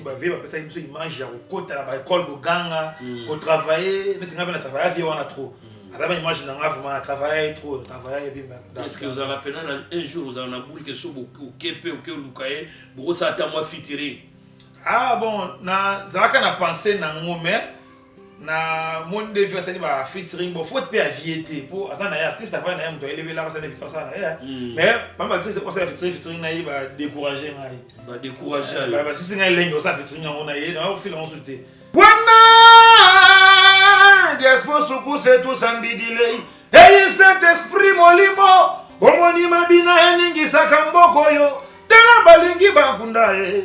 ba vie ba pesa biso image ya kokota na ba école boganga mm. ko travailler mais singa bana travailler vie wana trop mm. aza ba image na nga vraiment na travailler trop na travailler bien mais est-ce que vous avez rappelé un jour vous avez na boule que so bo kepe ou que lukaye boko sa ta moi fitiri ah bon na zalaka na penser na ngo mais na moni nde vie asali ba featuring bo faute pe avie te po aza na ye artiste avai na ye moto ayelebela basala invité asala na ye hmm. mais bambe artiste osala featuring featuring na ye ba décourage ngai ba décourage ba ba sisi ngai lenge osala featuring yango na ye na ofila yango te wana diaspo suku se tout sambidilei eyi saint esprit molimo omoni mabina eningisaka mboko oyo tala balingi bakunda ye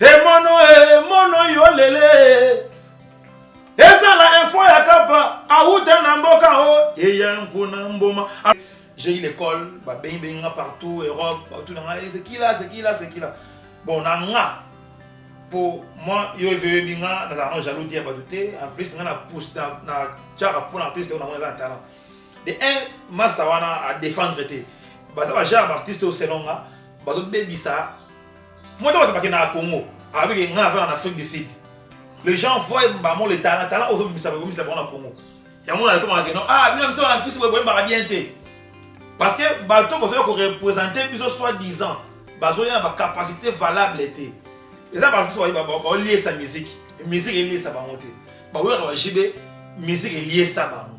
Emono emono yo lele ezala info ya kapa awuta na mboka o oh, eya nkuna mboma j'ai eu l'école babengi bengi nga partout europe partout na ngai ezekila ezekila ezekila bon na nga po moi yo eveyebi nga nazalaka jaloux te ya bato te en plus nga na pousse na tiaka mpona artiste oyo na mona eza na talent de un masta wana a défendre te baza ba genre baartiste oyo selon nga bazobebisa Moto bato bakendaka Congo avec un grand en Afrique du Sud. Les gens voient Mbamo le talent, talent ozo bimisa ba bimisa ba na Congo. Ya mona alikuwa ngeno, ah bino msio na fisi wewe mbaka bien te. Parce que bato bozo ko représenter biso soit disant, bazo ya na ba capacité valable te. Eza ba biso ba ba liesa musique, musique eliesa bango te. Ba wera ba jibe musique eliesa bango.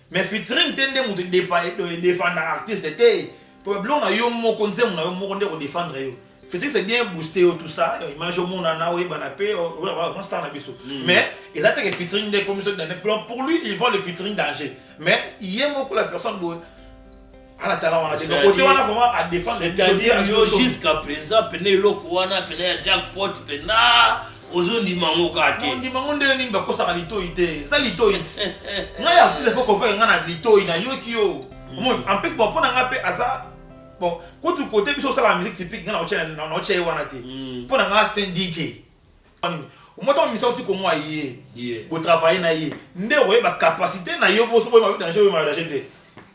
Mais featuring te nde mutu defendaka artiste te problème na yo moko nzembo na yo moko nde ko defendre yo featuring c'est bien booster yo tout ça image omonana oyebana pe vraiment star na biso mais eza te que featuring nde ekomi so pour lui il voit le featuring danger mais ye moko la personne boye c'est-à-dire yo jusqu'à présent pene eloko wana pene ya jackpot pena ozondima yango kaka te ondima yango ndenge nini bakosaka litoi te eza litoi ngai ya plus efo kofaka ngai na litoi nayoki yo omoni en plus bon mpo na ngai mpe aza bon kutu kote biso osalaka musique typique ngai naotya ye wana te mpo na ngai c'est un dj omotaka misa oti komwa ye kotravaille na ye nde okoyeba capacité na yo mpo soki oyeba yo danger oyeba danger te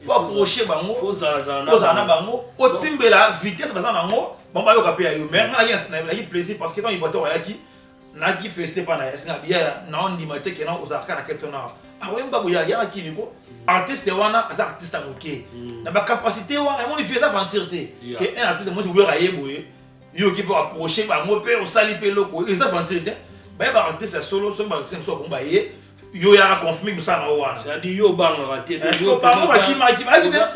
faut accrocher bango faut zala zala faut zala na bango otimbela vitesse baza nango bango bayoka pe ya yo mais nga naki plaisir parce que tant iboateur ayaki naki félicité pa na ya singa biya na ondima te ke na ozala kaka na quelque temps awa akoyemba ah, boya yaka kini ko artiste wana aza artiste ya moke hmm. na bacapacité wana emoni vie eza aventure te ke un artiste mosi oyoka ye boye yo oki mpe approche bango mpe osali mpe eloko eza aventure te baye baartiste ya solo soki baartiste mosusu akomba ye yo yaka confirme kosala na yo wana c'est-à-dire yo obangaka te bango bakimaki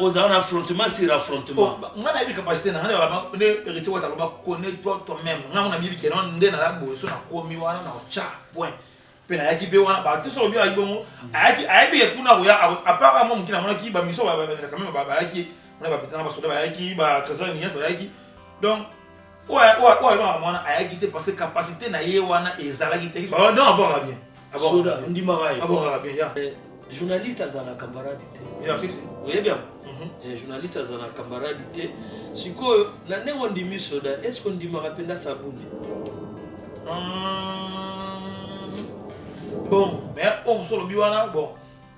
ozala na affrontement sur affrontement oh, nga nayebi capacité na nga ne héritier wata aloba connais toi toi même nga ngo nayebi keno nde na laboso nakomi wana na otya point mpe nayaki mpe wana bato soko obi ayaki bongo ayaki ayebi ye kuna koya apart mwa moke namonaki bamiso quand même bayaki na bapetana basoda bayaki ba trésor nias bayaki donc Oyo oyo oyo na mwana ayaki te parce que capacité na ye wana ezalaki te. Oh non abora bien. Abora. Soda ndimaka ye. Abora bien ya. Eh, journaliste azala camarade te. Ya si si. Oye bien. Mhm. Eh, journaliste azala camarade te. Sikoyo na ndenge ondimi soda, est ce que ondimaka mpe na sabundi? Hum, bon, mais oyo mosusu olobi wana bon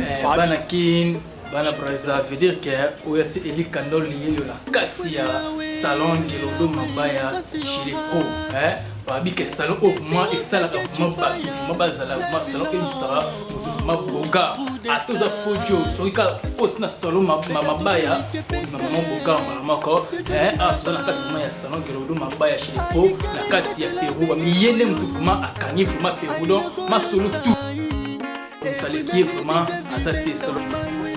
Eh, bana kin bana braza veut dire que oyo asi eli kandol liyeyo na kati ya salon ngelodo mabaya chileko eh? babi ke salon oyo vraimen esalaka vraimen bato vraimen bazala vraimen salon emusaka moto vraimen boga ata oza fojo soki kaka koti na salon mabaya obima vraimen boga mbala moko eh, awa toza na kati vraimen ya salon ngelodo mabaya chileko na kati ya perou bamiye nde moto vraimen akangi vraimen perou don masolo tout Mutalekie vraiment aza te solo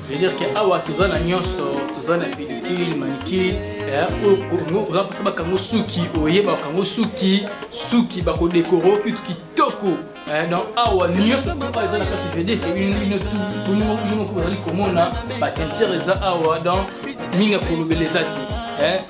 veut dire que awa toza na nyonso toza na pellicule manicule eh, oyo kongo oza mposa bakango suki oye bakango suki suki bakodekoro kitu kitoko eh, donc awa nyonso oyo eza na kati vede bino ozali komona batinture eza awa donc mingi ya kolobela eza te eh,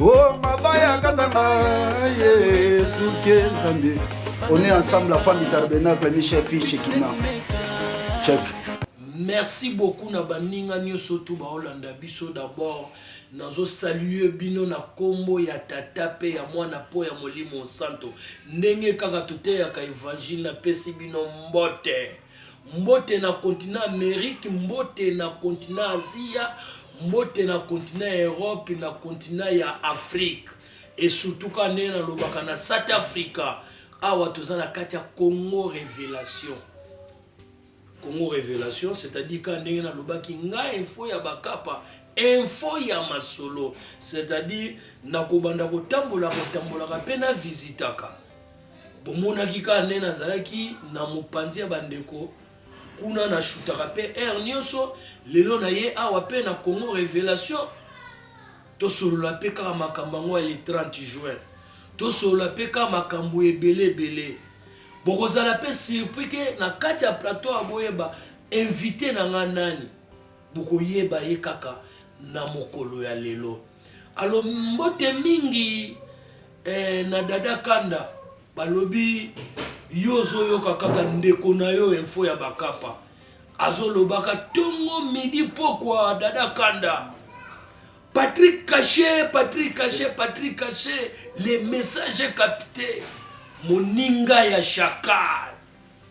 o oh, mabaya katanga yesu ke nzambe on est ensemble la femme du tabernacle michel fiche kina check merci beaucoup na baninga nyonso tu baolanda biso d'abord nazosalue bino na nkombo ya tata mpe ya mwana mpo ya molimo santo ndenge kaka toteyaka evanjile napesi bino mbote Mbote na kontina Amerike, mbote na kontina Azia, mbote na kontina ya Erope, na kontina ya Afrike esutuka ndenge nalobaka na Sat Afrika. Awa toza na kati ya Congo Revelation. Congo Revelation, c'est-à-dire ka ndenge nalobaki nga info ya bakapa info ya masolo c'est-à-dire nakobanda kotambola kotambolaka mpe na visitaka Bomonaki kaka ndenge nazalaki na mopanzi ya bandeko kuna na shutaka pe heure nionso lelo na ye awa pe na Congo revelation tosolola pe kaka makambo yango ya le 30 juin tosolola pe kaka makambo ebele ebele bokozala pe surpris ke na kati ya plateau ya boyeba invité na nga nani bokoyeba ye kaka na mokolo ya lelo alo mbote mingi Eh na dada kanda balobi yo ozo yoka kaka ndeko nayo info ya bakapa azo lobaka tongo midi pokwa dada kanda Patrick cache Patrick cache Patrick cache le message capte moninga ya chacal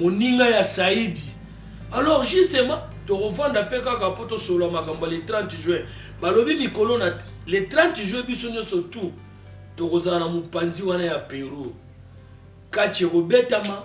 moninga ya saidi alors justement tokovanda mpe kaka mpo tosolola makambo ya le 30 juin balobi mikolo na le 30 juin biso nyonso tout tokozala na mopanzi wana ya peru kati ekobetama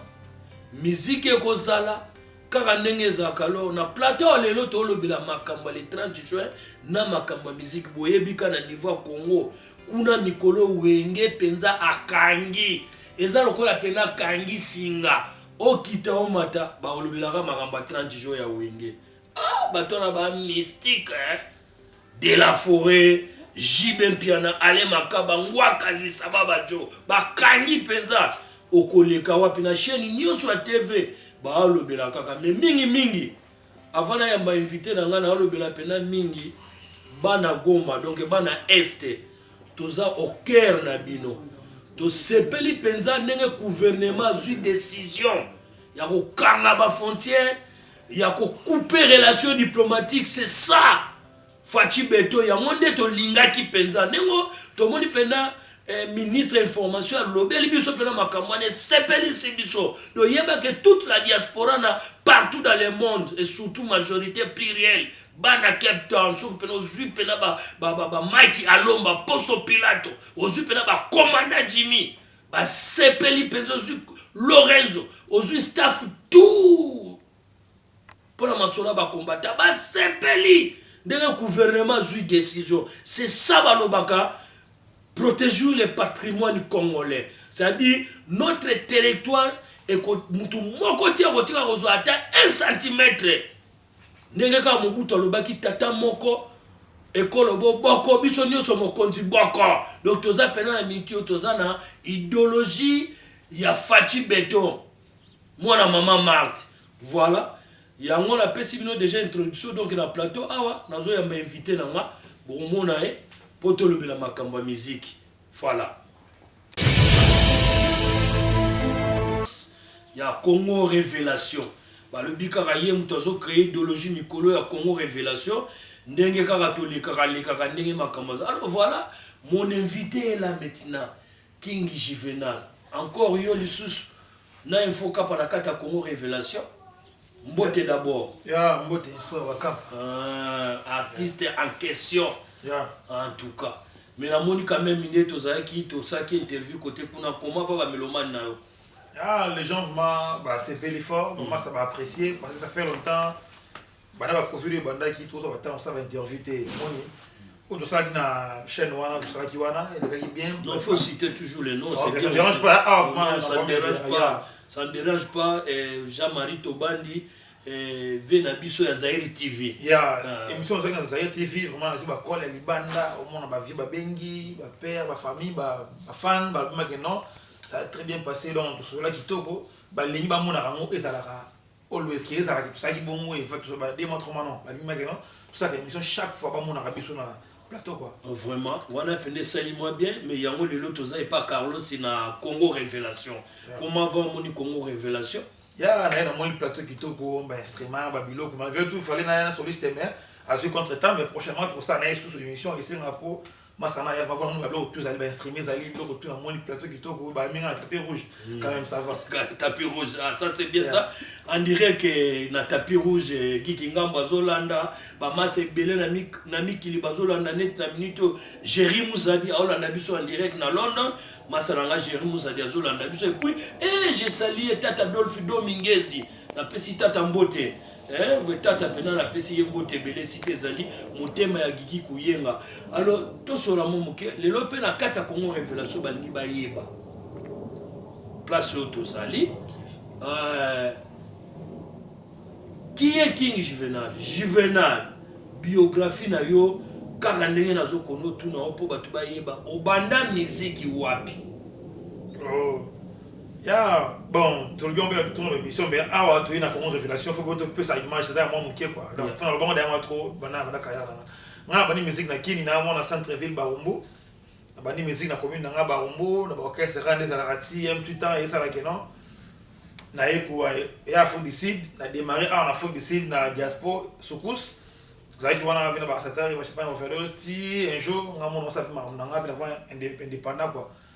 miziki ekozala kaka ndenge ezalaka lor na plateau ya lelo tolobela makambo ya le 30 juin na makambo ya miziki boyebika na niveau ya congo kuna mikolo wenge mpenza akangi Eza lokola pena kangi singa okita omata baolobelaka makambo ya 30 jours ya wenge ah bato wana ba mystique eh? de la foret jibe mpiana ale makaba ngwakazi sababa jo bakangi mpenza okoleka wapi na chaine nyonso ya tv baolobela kaka me mingi mingi Avant na yamba invite na nga na lobela pena mingi bana Goma donc bana Est toza au cœur na bino tosepeli mpenza ndenge gouvernement azwi decision ya kokanga ba frontière ya kokupe relation diplomatique c'est ça Fatshi beton yango nde tolingaki penza ndenge tomoni pena eh, ministre ya information alobeli biso mpena makambo wana esepelisi biso toyeba ke toute la diaspora na partout dans le monde et surtout majorité plurielle bana cape town soki mpena ozwi mpena bamike alomba poso pilato ozwi mpena bakomanda jimmy basepeli mpenza ozwi lorenzo ozwi staff tout pona masolo ya ba combattant basepeli ndenge gouvernement azui decision c'est ça balobaka proteger le patrimoine congolais c'est-à-dire notre territoire mutu moko te akotika kozwa ata 1 centimetre ndenge kaka mobutu alobaki tata moko ekolo boboko biso nyonso mokonzi boko donc toza mpena na miniti oyo toza na idéologie ya faci beton Mwana maman Marthe. Voilà, yango na pesi bino dejà introduction donc na plateau awa nazo yamba invité na nga bokomona ye po tolobela makambo ya musique. Voilà. ya Congo Révélation balobi kaka ye moto azo créer idéologie mikolo ya Congo Révélation ndenge kaka tolekaka lekaka ndenge makambo aza alors voilà mon invité est là maintenant King juvenal encore yo lisusu na info kapa na kati ya congo revelation mbote d'abord yeah, mbote info ya bakapa uh, artiste yeah. en question yeah. en tout cas mais namoni quand même nde tozalaki tosaki interview kote kuna koma va bamelomane na yo ah, les gens vraiment basepeli fort mm. mama ça baapprécier parce que ça fait longtemps Banda ba covid oyo ebandaki tozwa ba temps kosala ba interview te omoni oyo tosalaki na chaîne wana tosalaki wana elekaki bien Non, faut citer toujours les noms, c'est bien. Ça dérange pas, ah, vraiment, Non, ça ne vraiment, dérange yeah. pas. Ça ne dérange pas. eh, Jean-Marie Tobandi, eh, vie na biso ya Zaire TV. ya Ah. émission ozalaki na zaire tv vraiment nazwi bakole ya libanda omona bavie babengi bapère bafamille bafan balobimaki non ça a très bien passé donc tosololaki kitoko balingi bamonaka yango ezalaka Always ke ezalaka tosalaki bongo et fait ba deux mois trois mois non balingi bakeno tosalaka émission chaque fois bamonaka biso na plateau quoi vraiment wana pende esali mwa bien mais yango lelo toza epa carlos na congo révélation yeah. comment va omoni congo révélation ya naye namoni plateau kitoko bainstrument babiloko malgré tout fallait naya na soliste mais azwi contre temps mais prochainement tokosala naye susu émission esengaka po masanga ya papa muna biloko tout ezali ba instruments ezali biloko tout namoni plateau kitoko ba minga na tapis rouge hmm. quand même ça va tapis rouge ah ça c'est bien ça on dirait que na tapis rouge eh, Guy Kingambo azolanda ba masse ebele na mi na mikili bazolanda net na minute Jerry Muzadi aolanda biso en direct na London masala nga Jerry Muzadi azolanda biso et puis eh j'ai salié tata Dolphy Domingezi Napesi tata mbote eh, vre tata pena napesi ye mbote ebele esika ezali motema ya gigi kuyenga alo tosola mo moke lelo mpe na kati ya congo revelation balingi bayeba place oyo tozali eh, qui est king juvenal juvenal biographie na yo kaka ndenge nazokona otuna yo mpo bato bayeba obanda miziki wapi oh. Ya bon tolobi yango mpe na emission mpe awa toye na Congo Revelation faut boto pesa image ata ya mwa moke quoi donc tuna lobango da yango trop bana bana kaya na nga na bani musique na Kini na mwana centre ville Barumbu na bani musique na commune na nga Barumbu na ba orchestre rande ezalaka ti un petit temps esala que non na ye ko ya Afrique du Sud na démarrer awa na Afrique du Sud na diaspora soukous zalaki wana vina ba satari ba chapana overdose ti un jour nga mwana osapi makambo na nga mpe na indépendant quoi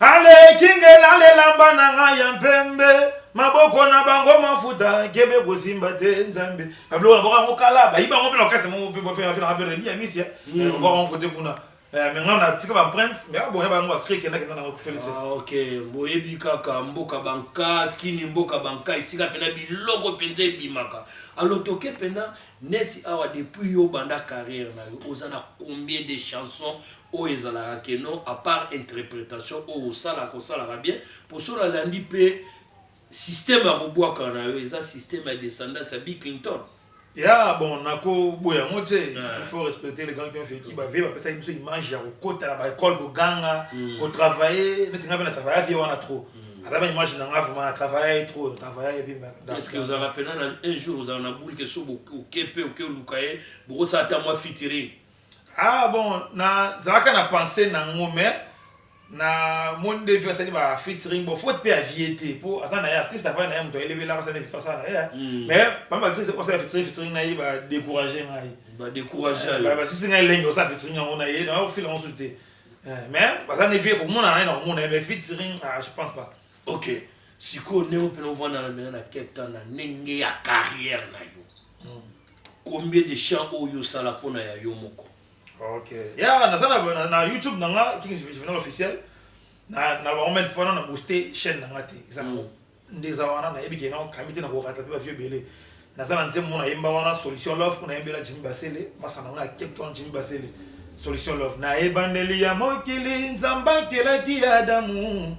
Aleki nge na lelamba na nga ya mpembe maboko na bango mafuta kebe kosimba te nzambe abilo na boka mokala bayi bango mpe na kasi mo mpe bafela fela mpe rebi ya misia mm. boka bango kote kuna eh, mais nga na tika ba prince mais aboya bango ba crie kenda kenda na ko fela te ah, ok boyebi kaka mboka banka kini mboka banka esika pena biloko penza ebimaka alotoke pena Neti awa depuis yo obanda carrière na yo oza na combien de chansons oyo ezalaka que non à part interpretation oyo osalaka osalaka bien po soki na landi pe système ya ko buaka na yo eza système ya descendance ya Biclington Ya bon nako boya yango te il faut respecter les grands qui ont vecu ba vieux ba pesaki biso image ya ko kota na ba ecoles ko ganga ko travailler neti nga pe na travaillaka vieux wana trop aza ba image na nga vraiment na travaille trop na travaille epi est-ce que ozalaka pena na un jour ozala na boule ke so oke mpe oke oluka ye bokosala ata mwa fitiring ah bon nazalaka na pensée na ngo mais na moni nde vi asali ba fitiring bon faute mpe ya vie te mpo aza na ye artiste avai na ye moto ayelebelaka asala victoire asala na ye hmm. mais pamba actrice osala fitiring fitiring na ye badécourage ngai badécourage basisi ngai elengi osala fitiring yango na ye na ofila yango susu te Eh, mais baza na vie komonana ye na komona ye mais featuring ah, je pense pas ok sikoyo ndenge mpena ovandana mpena na cape town na ndenge ya carrière na yo hmm. combien de chant oyo osala mpona ya yo moko ok ya naza na youtube na nga king juvenal officiel na bango mene fana na booste chaîne na nga te eza nango hmm. Ndeza wana na yebi ke na okangi te na ko ratape ba vieux ebele naza na nzembo na yemba wana solution love kuna yembela Jimmy Basele masa na nga ya Cape Town Jimmy Basele solution love na ebandeli ya mokili nzambe akelaki adamu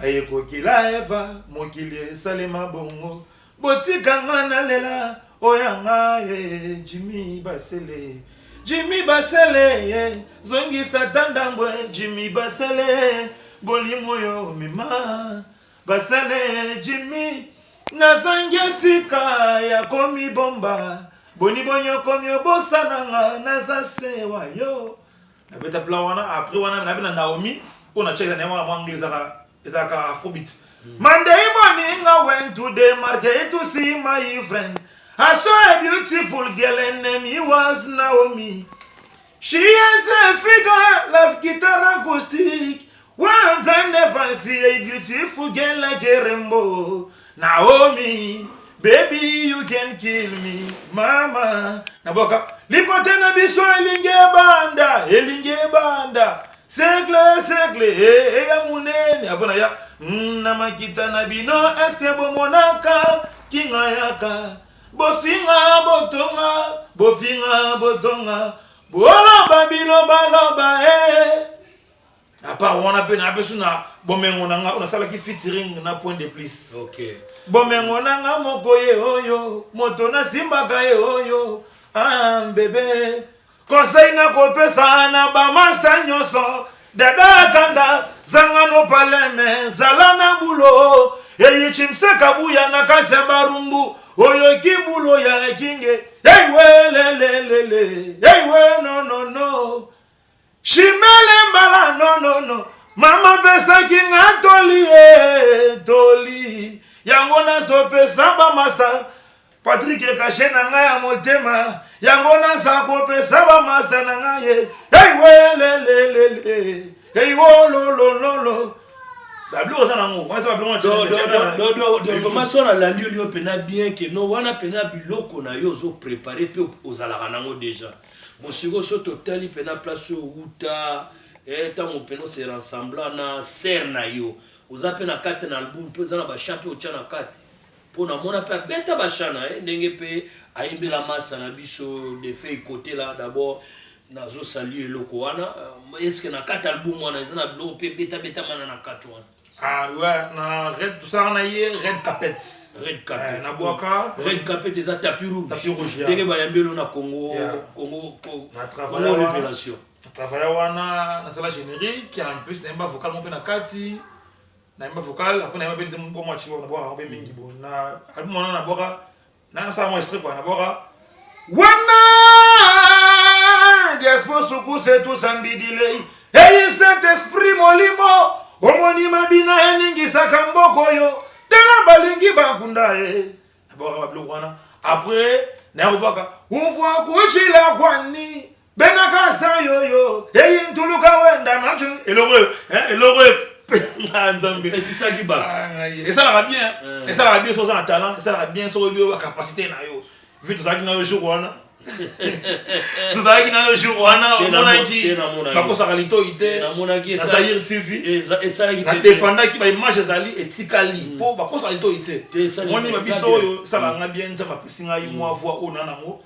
aye kokila eva mokili esalema bongo botika nga na lela oya nga ye eh, Jimmy Basele Jimmy Basele eh, zongisa ta ndambo eh, Jimmy Basele bolingo yo mema Basale Jimmy nazangi esika ya komibomba Boni boni okomi obosana nga naza se wa yo Na beta plan wana après wana na bina Naomi Oyo na cheka na ye wana mwa anglais ezaka ezaka afrobeat Monday morning I went to the market to see my friend I saw a beautiful girl and name he was Naomi She has a figure like guitar acoustic One plan never see a beautiful girl like a rainbow. Naomi, baby you can kill me, mama. Naboka, lipote na biso elingi ebanda, elingi ebanda. Segle, segle, eh, eh, ya munene. Abona ya, mm, na makita na bino, eske bomonaka, kinga yaka. Bofinga, botonga, bofinga, botonga. Boloba, biloba, loba, eh. apart wana mpe na biso na bomengo na nga nasalaki featuring na point de plus okay. bomengo na nga moko ye oyo moto nasimbaka ye oyo ah, bebe kosei na kopesa na bamasta nyonso dada kanda zanga nopaleme zala na bulo eyichimse kabuya na kati ya barumbu oyo kibulo ya kinge eiwelelelele eiwe nonono Chimele mbala no no no mama pesaki nga toli e toli yango nazopesa bamasta Patrick kashe na nga ya motema yango naza kopesa bamasta na nga ye eiwelelelele eiwololololo babilo oza nango wana eza babilo information nalandi yo mpenza bien ke no wana mpenza biloko na yo ozoprepare mpe ozalaka nango déjà Bon sikoyo soki totali pena place oyo owuta eh tango pena ose rensembla na sœur na yo oza pe na kati na album pe oza na ba chant pe otia na kati po na mona pe abeta ba chant na ye ndenge pe ayembela masta na biso Defay Kotela d'abord nazo saluer eloko wana est ce que na kati album wana eza na biloko pe ebeta beta mana na kati wana? Ah ouais, na red tosala na ye red carpet. Red carpet. Eh, na bwaka red carpet eza tapis rouge. Tapis rouge. Yeah. Ndenge bayambi elo na Congo yeah. Congo Congo, Congo révélation. Na travailler wana na sala générique en plus na yemba vocal mon pe na kati. Na yemba vocal après na yemba pe nzembo mwa chiwa na bwaka pe mingi bon. Na album wana na bwaka nanga sa mwa strip wana bora wana diaspo sukuse tusambidilei eyi saint esprit molimo omoni mabina eningisaka mboko oyo tala balingi bakunda ye nabwaka babiloko wana apres nayakobwaka umvua kucila kwani Benaka sa yo yo, eyi ntuluka wenda machu eloko oyo, eh, eloko oyo ah, nzambe etisaki ba ah, esalaka bien eh. esalaka bien soza na talent esalaka bien soko yo ba capacité na yo vu tozalaki na yo jour wana tozalaki na yo jour wana omonaki bakosaka litoi te nazaire tv nadefandaki baimage ezali etikali mpo hmm. bakosaka litoi te moni babiso oyo esalaka ngai bien nzambe apesi ngai mwa hmm. voi oyo na nango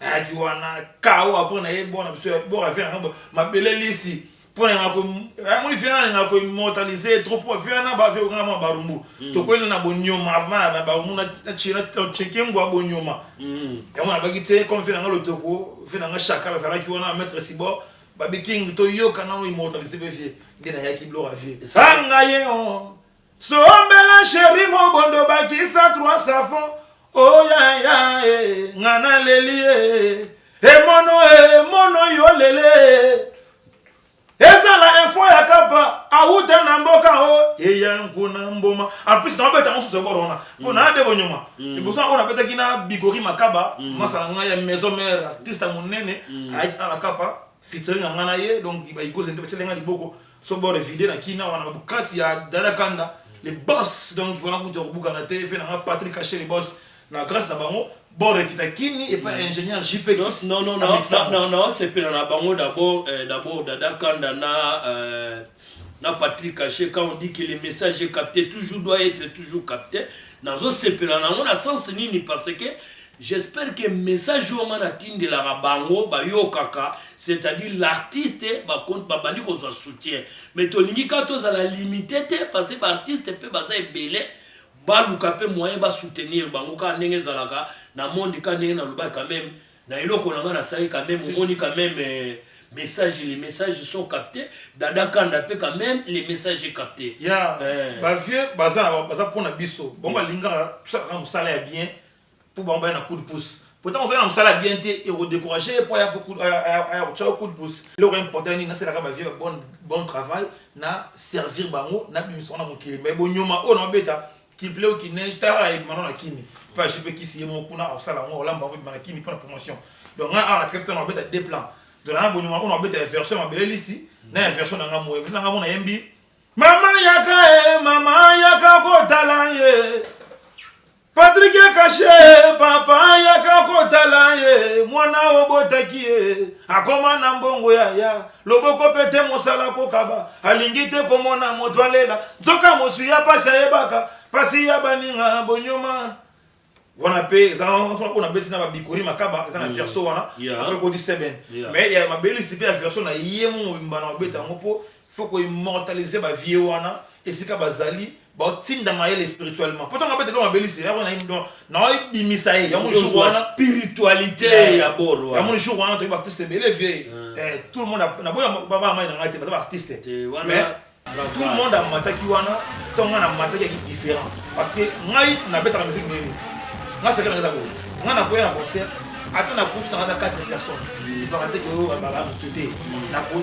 Nayaki wana kawa mpo na ye bona biso ya bora via na ngo mabele lisi mpo na ngako amoni via na ngako immortaliser trop mpo via na ba via kanga mwa barumbu mm. tokwenda na bonyoma avant na barumbu na na chira na cheke ngwa bonyoma mm. yango na baki te comme via na ngalo toko via na nga chakala salaki wana maître sibor babi king toyoka nano immortaliser pe vie nde nayaki blora vie sanga ye oh. Sombela cherie mobondo bakisa trois savon oyaya oh, e eh, nga naleli e eh. emono e emono yo lele ezala info ya kapa awuta na mboka o oh, eya nkuna mboma en plus naobeta mosusu ekoro wana mpo na de bonyoma liboso yango nabetaki na bigori makaba mm. masala ngai ya maison mare artiste monene mm. ayaki na kapa fitiri na ngai na ye donc baikoze nde batyele ngai liboko so bo refide na kina wana bukasi ya dada kanda le boss donc wana kutu ya kobukana te efe na nga patrick ashe le boss na grâce na bango borekita kini epa ingénieur jp naosepela na bango dabord eh, dabord dada kanda na euh, na patrick ashe quand on dit que le message est capté toujours doit être toujours capté nazosepela nango na sens nini parce que J'espère que message oyo nga na tindelaka bango ba yokaka c'est à dire l'artiste ba bandi kozwa soutien mais tolingi kaka tozala limite te parce que ba artiste pe baza ebele baluka pe moyen ba soutenir bango kaka ndenge ezalaka na monde kaka ndenge na lobaki quand meme na eloko na nga na sali quand meme omoni quand meme euh, message les messages sont captés dada kanda pe quand meme les messages est capté ya yeah. euh. ba vieux baza baza pona biso bango balingaka tosalaka musala ya bien po bango baya na coup de pouce po tango ozali na mosala ya bien te eko decourage ye po aya kotya yo coup de pouce eloko ya important nini nasalaka ba vieux ya bon travail na servir bango na bimisa bango na mokili mais bonyoma oyo nao beta qu'il pleuve ou qu'il neige tala kaka ebima nao na kini pe ajupe ekisi ye moko kuna akosala yango akolamba yango ebima na kini po na promotion donc ngai awa na cape town nao beta deux plans donc nanga bonyoma oyo nao beta ya version ya mabele lisi na ya version na ngai moye version na ngai mona yembi mama yaka e mama yaka kotala ye Patrick ya kashe papa yaka kotala ye mwana obotaki ye akoma na mbongo yaya loboko mpe te mosala kokaba alingi te komona moto alela nzoka moswi ya mpasi ayebaka mpasi ya baninga bonyoma wana mpe eza oyo nabesi na babikori makaba eza na mm. verso wana ape koti seben mais ya mabelisi mpe ya verso na ye mobimba na obeta yango mpo faut ko immortaliser ba vieux wana esika bazali ba tinda mayele spirituellement poto nga bete longa belise yako na indo na oi bimisa ye yango jour wana spiritualité ya boro yango jour wana to ba teste bele vieux eh tout le monde na boya ba ba mai na ngate ba artiste mais tout le monde a mataki wana to nga na mataki ki différent parce que ngai na beta la musique nini nga sekana za ko nga na koya na concert ata na kutu na 4 personnes ba te ko ba ba mutu te na ko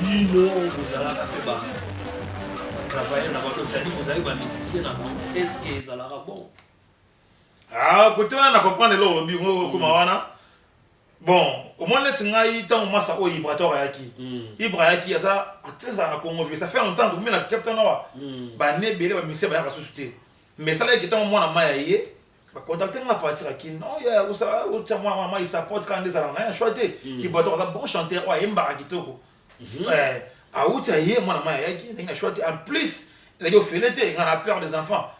bino bozalaka mpe ba travailleur na bango ezali bozali ba musicien na bango est ce que ezalaka bon ah kote wana na comprendre eloko olobi okoma wana bon omoni neti ngai ntango masa oyo oh, ibrator ayaki hmm. ibra ayaki aza actrice azala na congo vie ça fait longtemps tokomi na captain awa hmm. bane ebele bamise bayaka susu te mais esalaki ke ntango mwana mai aye Ba contacter nga partir ya kin oh yaya kosala otia mwa mwa mwa support kaka nde ezalaka naye choix te ibuatok aza bon chanteur oyo ayembaka kitoko eh awuti aye mwana mayi ayaki ndenge na choix te en plus ezalaki ofele te nga na père des enfants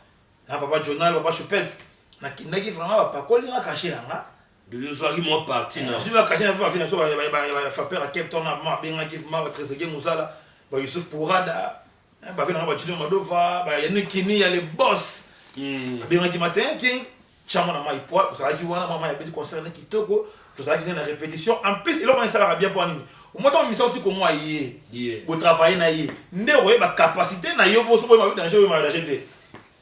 na papa journal papa choupette nakendaki vraiment bapakoli nga cachet na nga Donc ozwaki mwa parti na nazwi bakashe na mpe bafina biso bafapeur ya cape town abengaki ma batresege mosala ba yusuf pourada Eh, bave nanga bacino madova bayanikini ya le boss hmm. abengaki matin king chama na mai poi ozalaki wana mama yabeti concert na kitoko tozalaki nde na répétition en plus eloko wana esalaka bien mpo nini omota omisa oti komwa ye botravaille na ye nde okoyeba capacité na yo mpo soki oyeba yo danger oyo mayo danger te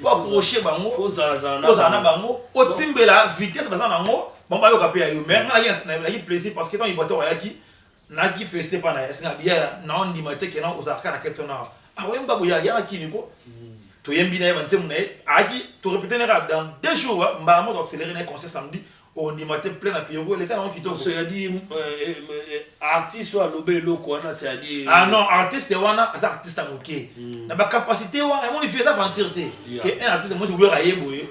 faut accrocher bango faut zala zala faut zala na bango otimbela vitesse baza nango bango bayoka pe ya yo mais nga nayaki plaisir parce que tant ibateur ayaki naki feste pa na yasi na biya na ondima te ke na ozalaka na keto na awemba boya yaka kini ko toyembi na ye banzembo na ye ayaki torepete na kaka dans deux jours mbala moko accéléré na ye concert samedi ondima te plein na pierrot eleka nango kitoko c'est à dire artiste oyo aloba eloko wana c'est à dire ah non artiste wana aza artiste ya moke na bacapacité wana emoni fi eza aventure te ke un artiste mosi oyoka ye boye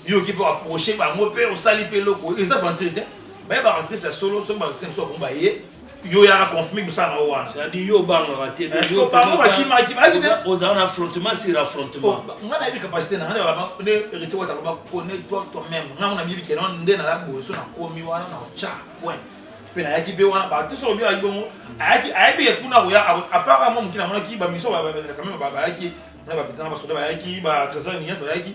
yo oki mpe approche bango mpe osali mpe eloko eza aventure te bayeba artiste ya solo soki baartiste mosusu akomba ye yo yaka confirme kosala na yo wana c'est-à-dire yo obangaka te bango bakimaki bayaki te ozala na affrontement sur affrontement ngai nayebi capacité na ngai ne héritier wata loba connais toi toi même ngai ngo nabibi keno nde na boso na komi wana na cha point mpe nayaki mpe wana bato soki obi ayaki bongo ayaki ayebi kuna koya apart mwa moke namonaki bamiso bayaki na bapetana basoda bayaki ba trésor nias bayaki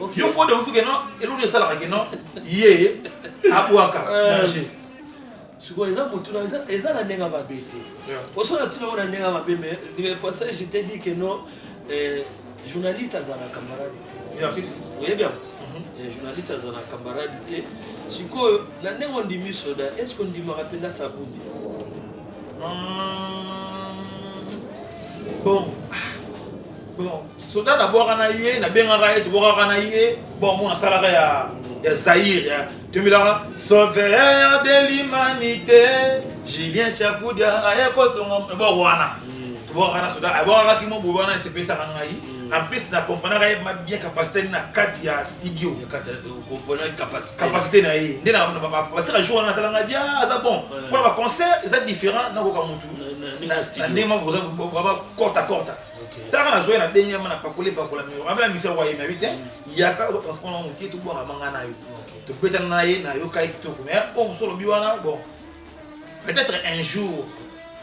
Okay. Yo faut de vous que non, et l'on est ça la que non, yé, abouaka, euh, danger. sikoyo eza motuna eza na ndenge mabe te osona tuna ngo na ndenge mabe mais passage je te dis que non euh, journaliste aza na camarade te oyebi yango mhm. euh, journaliste aza na camarade te sikoyo na ndenge ondimi soda est ce que ondimaka mpenza sabundi hmm. bon bon soda nabwaka na ye nabengaka ye tobwakaka na ye bon mo nasalaka ya ya zaire ya tombelaka sauveur de l'humanité julien chakudia aye kozonga eboko wana tobwakaka na soda abwakaka kimo boye wana esepesaka ngai en plus na comprenaka ye bien capacité na kati ya studio capacité na ye nde batika jour wana natalanga bien aza bon mpona baconcert eza différent nakoka motu na ndenge kota kota taka nazoya na denge yama na pakole pakola miro abela misala kwa yema bite yaka ozo transport na moke tobwaka manga na yo tobetana na ye na yokai kitoko mais po mosu olobi wana bon peut-être un jour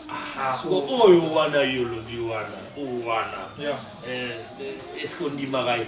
ah, ah, oh. oyo wana yo olobi wana oyo wana eh, eh, est ce que ondimaka ye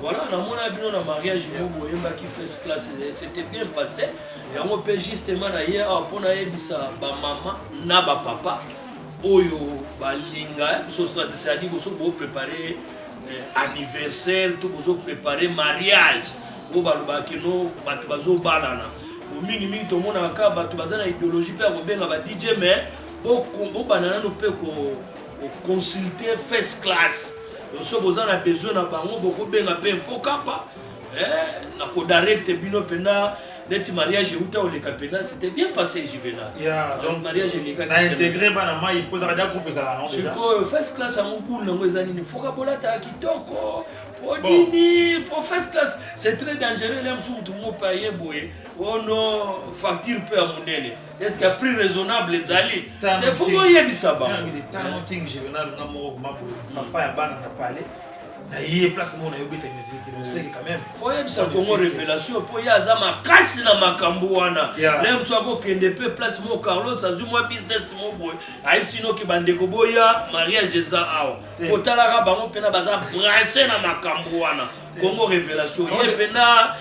Voilà, namona bino na mariage moko boyembaki first class c'était bien passé yango mpe justement na ye awa mpo nayebisa bamama na bapapa oyo balinga sosadi boso boprépare eh, anniversaire to bozo prépare mariage oyo balobaka kino bato bazobalana mingimingi tomonaka kaka bato baza na idéologie mpe ya kobenga ba dj mais bobanda nano mpe Ko consulter first class donc soki boza na besoin na bango boko benga pe info kappa eh, na ko directe bino penda neti mariage euta oleka penda c'était bien passé juvenal yeah, donc mariage eleka na intégrer bana mai po ezaka da groupe ezala non déjà sikoyo first class yango bulu nango eza nini foka bolata kitoko po nini po first class c'est très dangereux lem sukutu mopaye boye ono oh facture pe ya monene Est-ce qu'il y a plus raisonnable ezali te faut koyebisa bango ntango ntingi juvenal nga moko mako papa ya bana na pale na ye place moko na yo beta musique noseki quand même faut yebisa kongo révélation mpo ye aza makasi na makambo wana le mosu akokende mpe place moko carlos azwi mwa business mo boye ayebisi noki bandeko boya mariage eza awa kotalaka bango mpena baza branche na makambo wana kongo révélation ye mpena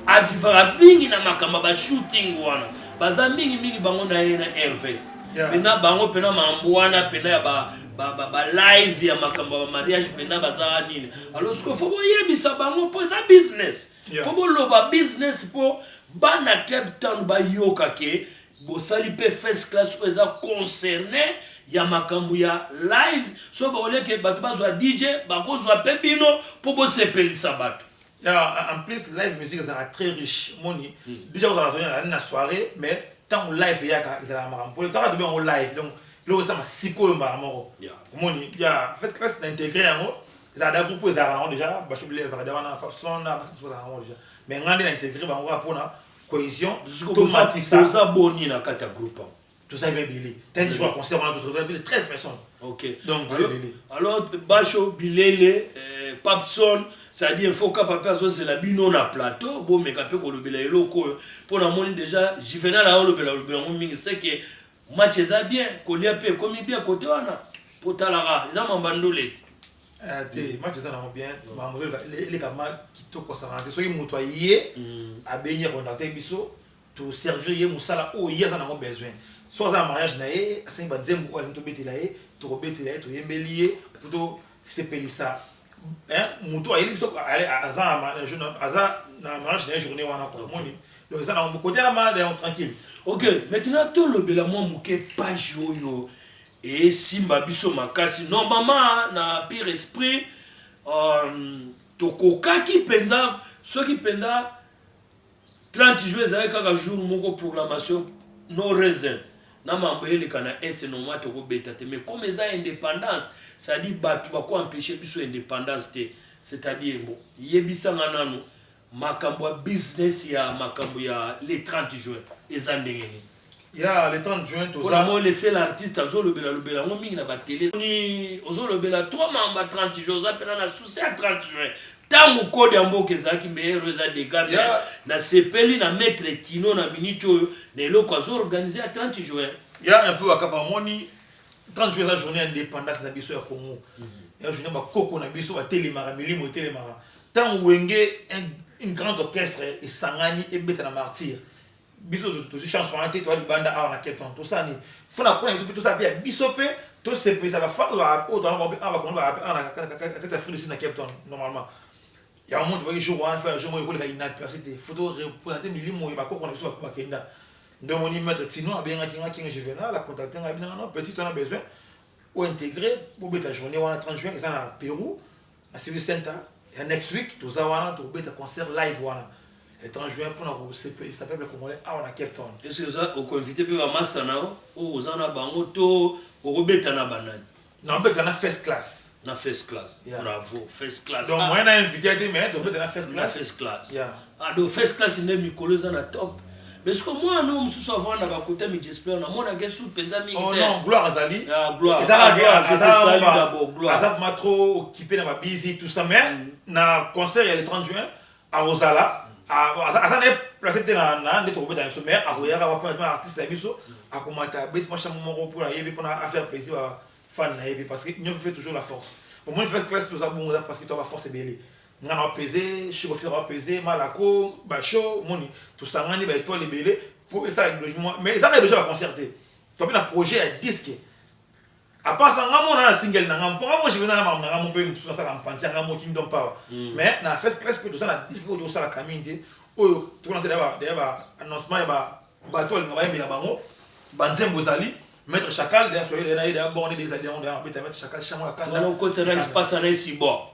A vivaka mingi na makambo ba shooting wana. Baza mingi mingi bango na ye na Herves. Yeah. Pena bango pena mambo wana pena ya ba ba ba, ba live ya makambo ya mariage pena baza nini. Alors siko faut boyebisa bango po eza business. Yeah. Faut boloba business po bana Cape Town bayoka ke bosali pe first class oyo eza concerne ya makambo ya live so baoleke bato bazwa dj bakozwa pe bino po bosepelisa bato Ya en plus live musique ezalaka très riche omoni dejà kozala zoni ezalaka na soirée mais ntango live eyaka ezalaka makambo mpo tanga tobe yango live donc eloko esama sikoyo mbala moko omoni ya fait classe na integre yango ezalaka da groupe ezalaka nango dejà bashobile ezalaka da wana papson na basatu bazalaka yango dejà mais ngai nde na integre bango kaka mpona cohésion tomatisa toza boni na kati ya groupe yango toza ebe ebele tani jour ya concert wana tozozala bile 13 personnes ok donc toza ebele alors basho bilele eh, papson cestadi info kapa mpe azozela bino na plateau bomeka mpe kolobela eloko oyo mpo namoni déjà juvenal aolobela olobela yango mingi seke match eza bien kolia mpe ekomi bien kote wana mpo talaka eza mamba ndolete eh, te mm. match eza nango bien makambo eleka kitoko osangana te soki moto aye mm. abengi akontakte biso To servir ye musala oyo ye aza nango besoin. Soki aza na mariage na ye, asengi ba nzembo oyo alingi to betela ye, toko betela ye, to yembeli ye po to sepelisa hein mutu ayebi biso aza aza na mariage na ye journee wana quoi omoni? Donc eza nango cote ya malade yango tranquille. Ok maintenant to lobela mua muke page oyo e simba biso makasi normalement na pire esprit, euh, to kokaki penza soki penza 30 juin ezalaki kaka jour moko proclamation no reason na mambo eleka na est normal toko beta te mais comme eza independance c'est à dire batu bako empêcher biso independance te c'est à dire mbo yebisa nga nanu makambo ya business ya makambo ya le 30 juin eza ndenge nini ya le 30 juin toza moi le seul artiste azolobela lobela yango mingi na batele ni ozolobela toi mamba 30 juin oza mpena na souci ya 30 juin ntango kode ya mboka ezalaki meilleur eza dega me nasepeli na maître tino na minute oyo na eloko azoorganize ya 30 juin ya info bakapa omoni 30 juin eza journée ya indépendance na biso ya congo mhm. ya journée bakoko na biso batelemaka milimo etelemaka ntango wenge un grand orchestre esangani ebeta na martyre Biso tozui chance wana te toa libanda awa na Cape Town tosala nini faut na coin na biso pe tosala pe ya biso pe tosepelisa ba fans ba oyo toza na bango pe awa ba congolais ba awa na kati ya Afrique du Sud na Cape Town normalement yango moni topaki jour wana faut ya jour moko ekoleka inaperce te faut to representer milimo ya ba koko na biso ba kenda nde omoni maitre Tino abengaki nga King Juvenal a contacter nga abi non non petit on a besoin o integrer bobeta journee wana 30 juin eza na Perou Na civic center ya next week toza wana tokobeta concert live wana le 30 juin pona kosepelisa peuple congolais awa na Cape Town. Est-ce que oza okoinvite pe ba masta na yo oyo oza na bango to okobeta na ba nani? Nakobeta na First Class. Na First Class. Yeah. Bravo. First Class. Donc ah. moyen na invite te mais tokobeta na First Class. Na First Class. Yeah. Ado first class nde mikolo eza na top mais siko mwana no mosusu avanda bakuta mijesper namonaka ye suki mpenza mingi oh te non gloire azali Ah, Gloire. Eza kaka Gloire, je te aza- salue aza- d'abord, Gloire. aza vraiment trop occupé na babizi tout ça mais na concert ya le 30 juin akozala a- aza aza na ye place te na na nde tokobeta na biso mais akoyaka wapi na tuna artiste na biso akomata abeti mwa chambre moko mpo na ye mpe mpo na affaire plaisir ba fan na ye mpe parce que nyonso fait toujours la force omoni fait classe toza bongo eza parce que toa ba force ebele Nga nao peze, Chic Officiel ao peze, Malako, Basho, omoni tosangani ba etoiles ebele po esala ideologie mwa mais eza kaka ideologie ya ba concert te, toza pe na projet ya disque à part ça nga moko naza na single na nga mpo nga moko je venais na makambo na nga moko mpe mosusu nasala mpanzi ya nga moko kingdom power mais na first class mpe toza na disque oyo tokosala kamin te oyo tokolansa deya ba annoncement ya ba bato alinga bayembela bango banzembo ezali maître chacal deya soyele na ye deya borne deya ezali yango deya mapeta maître chacal chango ya kanda Wana okotisa na espace na esi bo.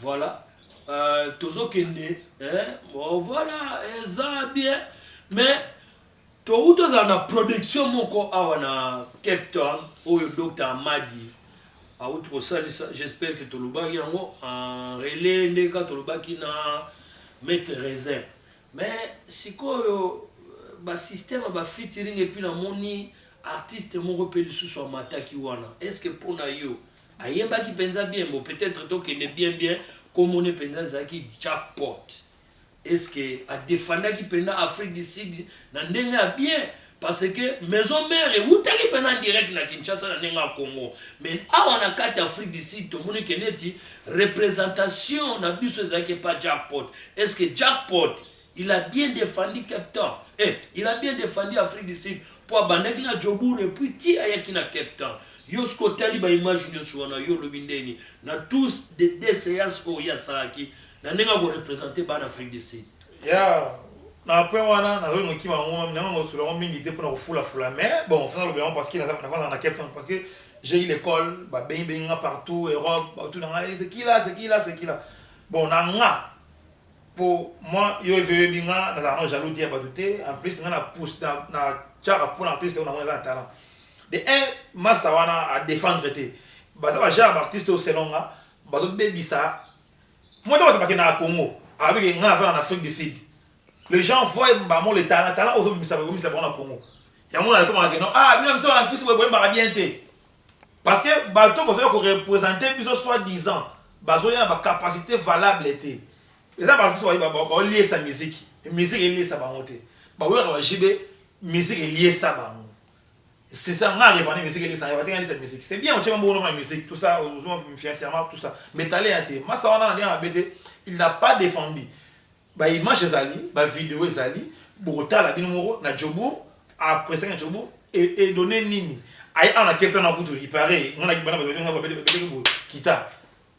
Voilà euh, tozokende eh, bon, voilà eza bien mais touti tozala na production moko awa na cape town oyo dr amadi auti kosalisa j'espère que tolobaki yango en relais ndeka tolobaki na maitre raisin Mais sikoyo ba système ya ba featuring et puis na moni artiste moko pe lisusu amataki wana est ce que pona yo ayembaki penza bien bon peut etre to kende bien bien kombo ne penza ezalaki jackpot est ce que a defendaki penza afrique du sud na ndenge ya bien Parce que maison mère ewutaki pena direct na Kinshasa na ndenge ya Congo mais awa na kati ya Afrique du Sud tomoni ke neti representation na biso ezalaki epa Jackpot. Est ce que Jackpot il a bien defendu Cape Town? Eh, il a bien defendu Afrique du Sud po abandaki na Joburg et puis ti ayaki na Cape Town. Yo soki otali ba images nionso wana yo olobi ndeni na tous de deux seances oyo ye asalaki na ndenge ya ko representer bana Afrique du Sud? Ya na point wana nazo linga okima yango mami nayo nakosola yango mingi te mpona kofula fula mais bon fo naloba yango parce que nafandaka na Cape Town parce que j'ai eu l'école babengi bengi nga partout Europe baotuna nga eh, c'est qui là c'est qui là c'est qui là bon na nga po moi yo ezo oyebi nga nazalaka na jaloux te ya bato te en plus nga na pousse na, na tiaka mpona artiste oyo na mona eza na talent de un masta wana a défendre te baza ba genre ba artiste oyo selon nga bazobebisa Comment t'as bakende na Congo? Abi ke nga avana na Afrique du Sud. Les gens voient mbamo le talent, talent ozo bimisa ba bimisa na Congo. Yango na toma ke non, ah bino biso na fisi boye mbaka bien te. Parce que bato bazo ko représenter biso soit disant bazo ya na ba capacité valable te. Eza ba biso ba ba liesa musique. Musique eliesa bango te. Ba wela ba jibe musique eliesa bango. C'est ça, nga revendais mes musiques, ça revendait nga cette musique. C'est bien, on tient bon nom la musique, tout ça, on joue financièrement, tout ça. Mais t'allais à tes, massa wana na bien abete, il n'a pas défendu. Ba image ezali, ba vidéo ezali, bota la binumoro na Djobour, après ça na Djobour et et donner nini. Aïe, on a quelqu'un na kutu, il paraît, on a qui bana ba bete ba bete kita.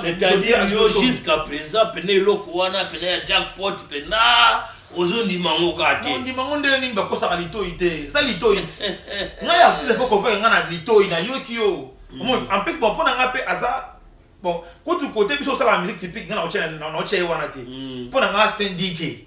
c'est-à-dire yo jusqu'à présent pene eloko wana pene ya jackpot pena ozondima yango kaka te ondima yango ndenge nini bakosaka litoi te eza litoi ti ngai artiste fo kofaka ngai na litoi nayoki yo omoni en plus bon mpo na ngai mpe aza bon kutu kote biso osalaka musique typique ngai naotya ye wana te mpo na ngai c'est un dj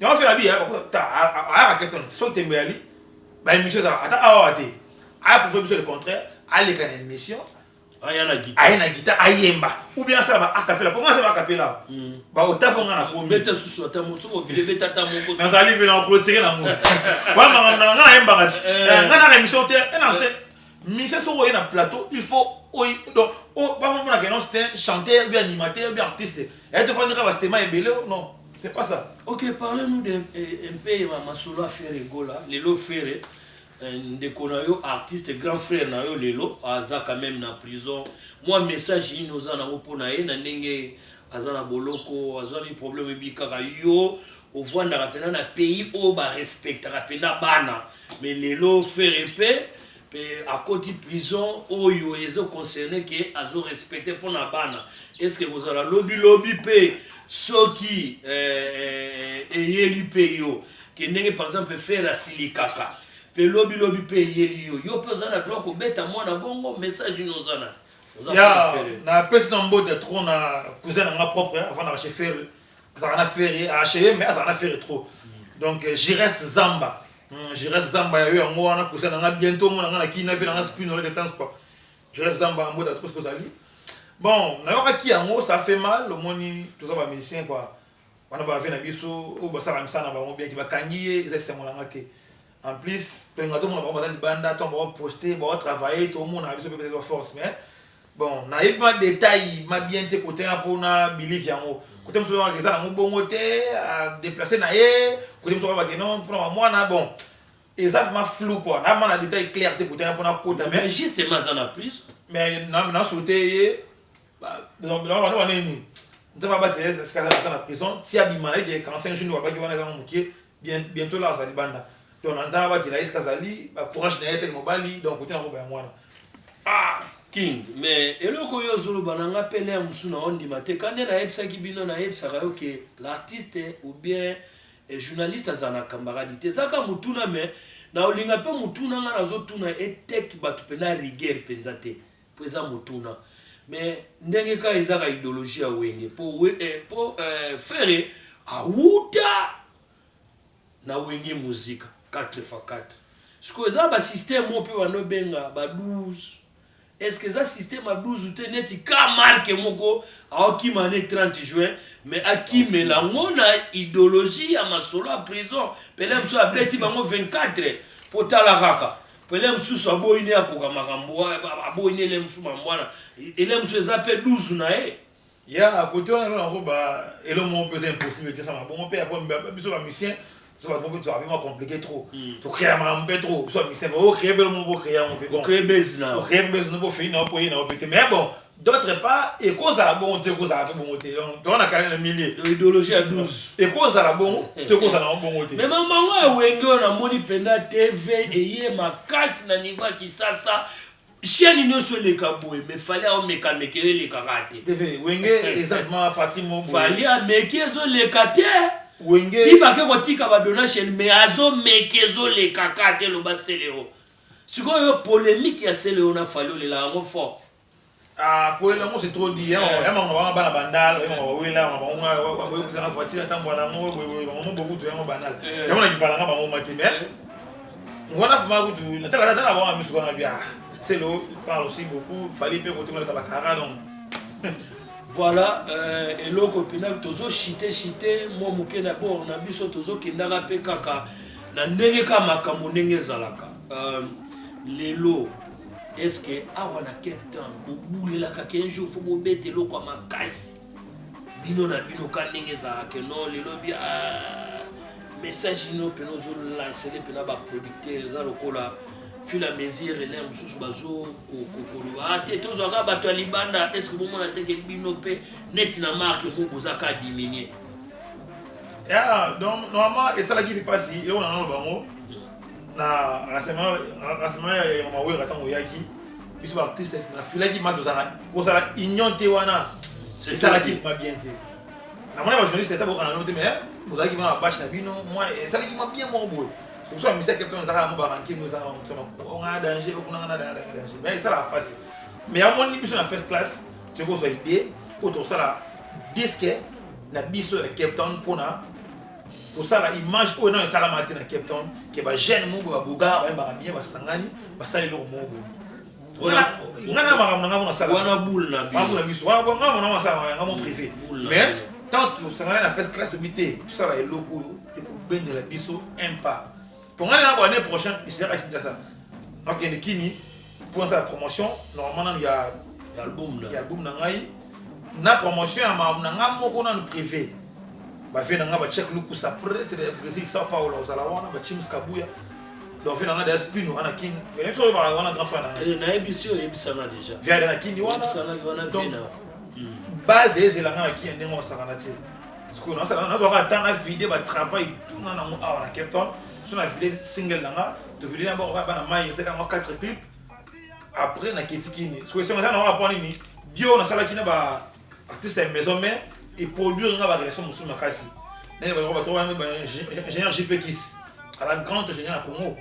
Nyango fela bi ya bako ta ayaka keton so tembe yali ba émission za ata awa te a prouver biso le contraire aleka na émission aya na guitare aya na guitare ayemba ou bien asala ba acapella po ngasala ba acapella mm. ba otafo nga na komi beta susu ata mo soko vile beta ata moko nazali vile na clôturer na mo ba mama na nga ayemba kati eh. eh, nga na émission te eh, na te mise soko ye na plateau il faut oyi donc o ba mama na kenon c'est un chanteur bien animateur bien artiste et de fois ndika ba stema ebele non C'est pas ça. Ok, parlez-nous de eh, un peu ma masolo ya Ferre Gola. Lelo Ferre eh, ndeko na yo artiste grand frère na yo lelo aza quand même na prison. Moi message nini oza nango mpo na ye na ndenge aza na boloko azwami problème ebi kaka yo ovandaka mpenza na pays oyo barespectaka mpenza bana mais lelo Ferre mpe pe akoti prison oyo ezo concerne ke azo respecte pona bana eske ekozala lobi lobi pe soki eh, eyeli pe yo ke ndenge par exemple ferre asilikaka pe lobi lobi pe eyeli yo yo pe oza na droit kobeta mwana bongo message ino oza na ya na pesi na mbote trop na cousin na nga propre avanda chez ferre azalaka na ferre acheye mais azalaka na ferre trop donc euh, jires zamba hmm, jires zamba yayo yango wana kusa na nga bientôt omona nga na kii na vie na nga spin oleke tan sport jires zamba mbota trop soki ozali bon nayokaki yango ça fait mal omoni toza ba musicien quoi wana bave na biso oyo basalaka misala na bango biaki bakangi ye eza esengo na nga te en plus tolinga tomona bango baza libanda ntango baoposte baotravaille tomona biso mpe baza force mais Bon nayebi ma detail ma bien te kote na po na believe yango kote mosusu babaka eza nango bongo te deplace na ye kote mosusu babake non mpona bamwana bon eza vraiment flou quoi na mana detail clair te kote na mpona kota mais justement aza na prison mais na souhaite ye bana baneni nzambe abatela ye esika azala ata na prison ti abima na ye ke 45 jours nde babaki wana ezango moke Bien bientot là aza libanda donc na nzala batela ye esika azali ba courage na ye te mobali donc kote na koba yango wana ah King mais eloko oyo ozoloba na nga pe lea mosusu na ondima te kande nayebisaki bino nayebisaka yo ke l'artiste ou bien eh, journaliste azala na cambaradi te eza kaka motuna mais na olinga pe motuna nga nazotuna eteki bato mpenza rigueur mpenza te Po eza motuna mais ndenge ka eza ka ideologie ya wenge po eh, po eh, ferre awuta na wenge musique 4 fois 4 sikoyo eza ba système oyo mpe bando benga ba 12 est-ce que eza système ya 12 te neti ka marke moko aokima ne 30 juin mais akimela yango na idéologie ya masolo ya prison pele mosusu abeti bango 24 mpo tala kaka Pele mususu aboyi ne akoka makambo aboyi ne ele mususu mambo wana ele mususu eza pe 12 na ye ya kote wana nona ko ba elo mo pe c'est impossible te sama bongo pe ako mba biso ba musicien so ba bongo to abima compliqué trop to créer makambo pe trop so ba musicien o créer belo mo bo créer yango pe ko créer base na o créer base no bo fini na po ye na o pe te mais bon d'autre part ekozala bongo to ekozala mpe bongo te donc toza na kani na milie ideologie ya 12 ekozala bongo to ekozala yango bongo te mema mango ya wenge oyo namoni mpenza tv eye makasi na niveau ya kisasa chaîne nyonso eleka boye mais fali aomeka meke yo elekaka te tv wenge eza vraimen patri mo fali ameki ezoleka te wenge ti bake kotika badona chaîne mais azomeki ezolekaka te loba seleo sikoyo yo polemique ya seleo na fali olela yango fort Ah, koyela yango c'est trop dit. Yango yango bango bango bana bandal, yango bango wela, yango bango nga wa boye kusa na voiture atambo na ngo boye boye bango boku to yango banal. Yango na kipala nga bango mate mais ngwana fuma kutu na tala tala bango misu kana bia. C'est l'eau parle aussi beaucoup, fallait pe kote ngata bakara donc. Voilà, euh, eloko pina tozo chite chite mwa moke na bord na biso tozo kendaka pe kaka na ndenge ka makambo ndenge ezalaka. Euh, lelo Est ce que awa na Cape Town bobulelaka ke un jour faut bobeta eloko ya makasi bino na bino ka ndenge ezalaka no lelo bia ah, message ino mpena ozolansele mpena baproducteur eza lokola fil à mesure na mosusu bazokoloba ah, te tozwaka bato ya libanda est ce que bomona teke bino mpe neti na marke moko boza ka diminue donc normalement esalaki mpasi eloko na nano bango Na rassemblement ya ya mama Werra tango oyaki biso ba artiste na filaki ma tozala kozala union te wana esalaki ma bien te. Na mona ba journaliste ta bokana no te mais bozalaki ma bash na bino moi esalaki ma bien moko boye. Kusa ba misa captain zaka mo ba ranki mo zaka mo tsoma ko nga danger ko nga na danger danger mais esala passe. Mais amoni biso na first class tokozwa idée po tosala disque na biso ya Cape Town pona kosala image oyo nano esalama te na cape town ke bajeune moko babogara bayembaka bien basangani basali eloko moko boye nga na makambo na ngai monasalwana boule na biso wana nga mona masala yanga mo privé mais tant tosangani na fete classe tobi te tosala eloko oyo ekobendela biso un pas Tongani na année prochaine, je serai à Kinshasa. Donc, il y a Kimi pour faire la promotion. Normalement, il y a l'album l'album Nangai. Na promotion à ma nanga moko na privé. Ba vie nanga ba check luku sa prêtre de Brésil Sao Paulo aux alawana ba chims kabuya. Donc vie nanga des pinu wana king. Et les trois ba wana grand frère nanga. Et na ebisio ebisana déjà. Via na king wana. Ebisana wana vina. Base ezela nanga king ndenge osakana tie. sikoyo nazala nazwaka ata na vide ba travail tuna nango awa na cape town so na vide single na nga tovide na bango bana mai ezalaka yango 4 clip après naketi kini sikoyo esengo eza na waka mpo nini dio nasalaki na ba artiste ya maison mère eproduire nga barelation mosusu makasi nani baloko bato wana ingénieur jp kis ala grand ingénieur ya congo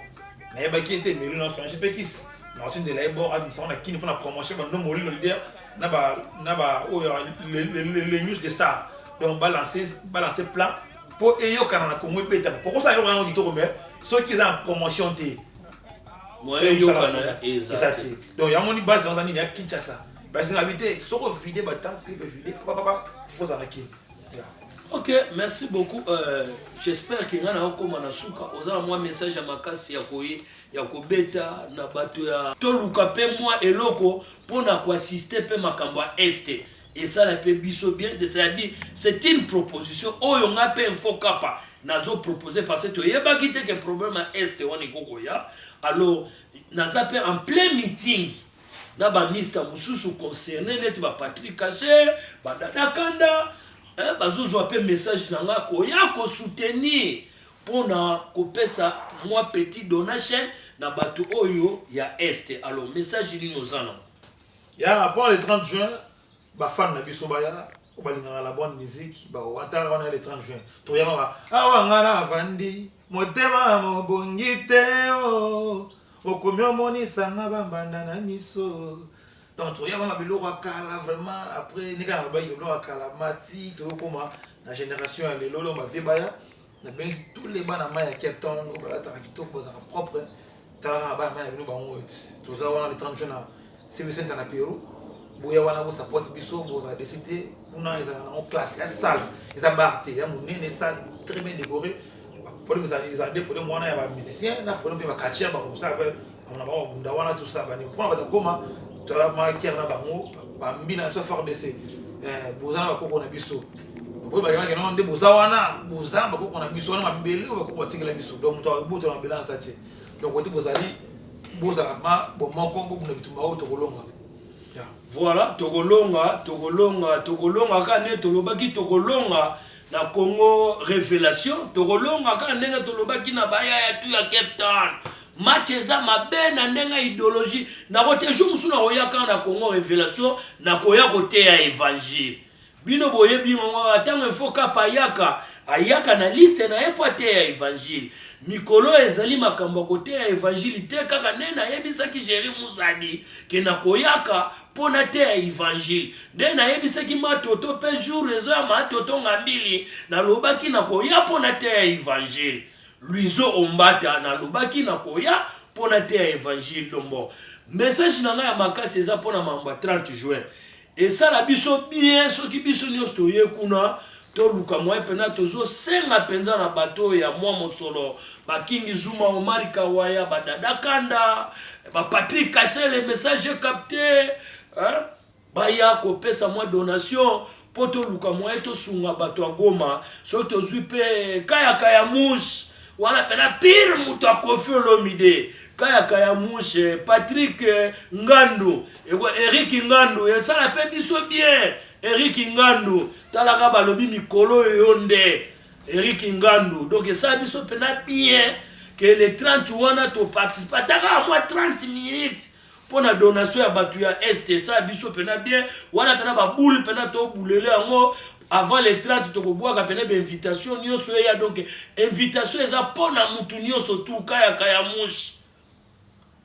nayebaki ete melu na sona jp kis martin de laebor abimisaka na kini mpo na promotion bandomolino lider na ba na ba oyo les, les, les, les news de star donc ba lancer ba lancer plan po eyokana na Congo ebetama poko sa yokana ngi toko mais soki eza na promotion te moyen yokana eza te donc yango ni base dans nini ya Kinshasa base na bité soko vide ba temps que vide papa papa faut ça na kin Ok, merci beaucoup. Euh, J'espère que ngana okoma na suka. Ozala mwa message ya makasi ya koye ya kobeta na bato ya toluka mpe mwa eloko mpo na koassiste mpe makambo ya este esala mpe biso bien cestadire c'est une proposition oyo ngai mpe info kapa nazo propose parce toyebaki te ke problème ya este wana ekokoya alors naza mpe en plein meeting na bamista mosusu concerne neti bapatrick kacher badadakanda bazozwa mpe message na ngai koya kosoutenir pona kopesa mwa petit donation na batu oyo ya Est alors message nini oza nango? Ya pona le 30 juin ba fan na biso baya oyo balingaka la bonne musique ba wata wana ya le 30 juin toyamaka awa nga na vandi motema mobongi te oh okomi omonisa nga ba mbanda na miso donc toyaka na biloko ya kala vraiment après ndenge na bayi biloko ya kala mati toyokoma na generation ya lelo leo bavie baya Na bengisi tous les bana mayi ya Cape Town oyo balataka kitoko bazalaka propre talaka na bana mayi na bino bango oyo ti toza wana le 30 juin na Civic Center na Peru boya wana bo support biso bozala desi te kuna ezalaka nango classe ya salle eza bar te ya monene salle très bien décorée podium ezala ezala nde podium wana ya ba musicien na podium mpe ba catcheur bakosala mpe na bango bakunda wana tosabani mpona batakoma tala maker na bango bambi na biso frdc eh, boza na bakoko na biso oyo bayebaki nao nde boza wana boza bakoko na biso wana mabele oyo bakoko batikela biso donc moto abotola mabele na sati donc ote bozali bozala ma bomoko bobunda bitumba oyo tokolonga voilà tokolonga tokolonga tokolonga kaka nde tolobaki tokolonga Na Congo revelation tokolonga kaka ndenge tolobaki na bayaya tu ya Cape Town. Match eza mabe na ndenge ideologie. Nakote jour mosusu nakoya kaka na Congo revelation nakoya koteya evangile. Bino boyebi ngo kaka ntango info kapa ayaka ayaka na liste na ye mpo ateya evangile. Mikolo ezali makambo ya koteya evangile te kaka nde nayebisaki Jerry Musadi ke nakoyaka Mpo nateya Evangile. Nde nayebisaki Matoto, mpe jour reseau ya Matoto Ngambili, nalobaki nakoya mpo nateya Evangile. Louiseau Ombata, nalobaki nakoya mpo nateya Evangile. Donc bon, message na ngai ya makasi eza mpo na makambo ya 30 juin. Esala biso bien soki biso nionso toye kuna, Toluka moyen pena tozo senga penza na bato oyo ya mua mosolo ba King Zuma, Omari Kawaya, ba Dada Kanda, ba Patrick Kasele, message est capte hein baya ko pesa mua donation po toluka moyen tosunga bato ya Goma soki tozui pe Kaya Kaya Mouche wana pena pire moto ya Koffi Olomide Kaya Kaya Mouche, Patrick Ngandu, Eric Ngandu esala pe biso bien Eric Ngandu tala ka balobi mikolo oyo yo nde Eric Ngandu donc esala biso mpena bien ke le 30 wana toparticipe ataka mwa 30 minutes mpo na donation ya bato ya est esala biso mpena bien wana mpena baboule mpena tobulele yango avant le 30 tokobwaka mpena bainvitation nyonso eya donc invitation eza mpo na motu nyonso tuka ya kayamushi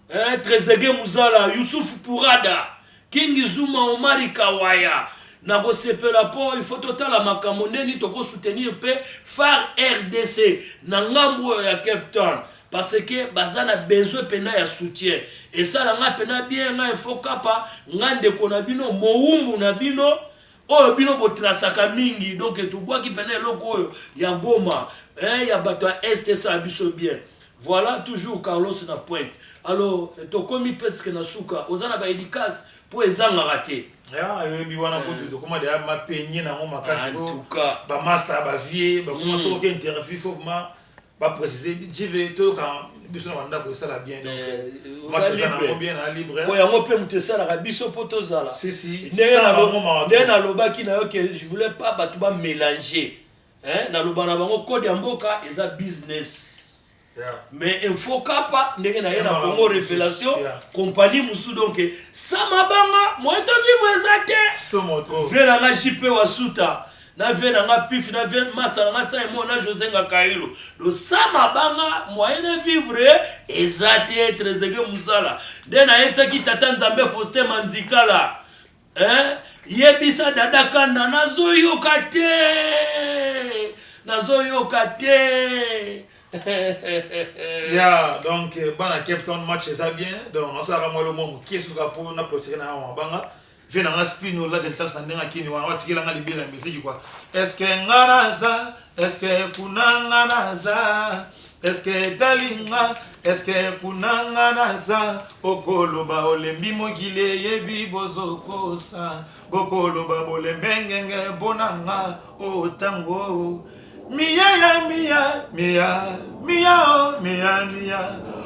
eh, Trezeguet Muzala, Youssouf Pourada, King Zuma, Omari Kawaya, nakosepela mpo il faut totala makambo ndeni toko soutenir mpe far rdc na ngambu oyo ya cape town parce que baza na besoin mpena ya soutien esala ngai mpena bien ngai info kapa ngai ndeko na bino mowumbu na bino Oyo bino bo trasaka mingi donc tobwaki pena eloko oyo ya Goma eh, ya bato ya est esala biso bien voilà toujours Carlos na pointe alors tokomi presque na suka oza na ba edicas po ezangaka te ayebi wana eh. kutu tokoma deya mapenye nango makasi ba masta ba vie bakoma mm. soki interview faut vraiment Ba precise JV toyoka biso na bandako esala bien donc eh, euh, match eza nango bien na libre po yango mpe moto esalaka biso mpo tozala ndenge nalobaki na yo ke je voulais pas bato bamélange naloba na bango code ya mboka eza business mais info kapa ndenge naye na congo révélation compagnie mosusu donc sama banga moyen to vivre eza te vie na nga jp wasuta na vie na nga pif na vie masa na nga saimo na jose nga kailo dosama banga moyen de vivre eza te trezege muzala nde nayebisaki tata nzambe foste manzikala eh? yebisa dada kanda nazoyoka te nazoyoka te ya donc bana cape town match eza bien donc nasalaka mwa elomwa moke suka mpo na clotire na yango mabanga Vie na nga spin ola de tas na ndenge akini wana watikela nga libela ya miziki kwa eske nga naza eske kuna nga naza eske etali nga eske kuna nga naza okoloba olembi mokili eyebi bozokosa bokoloba bolembe ngenge mpo na nga otango oh, oh. miya ya miya miya miya o oh, miya miya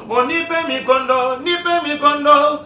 onipe mikondo nipe mikondo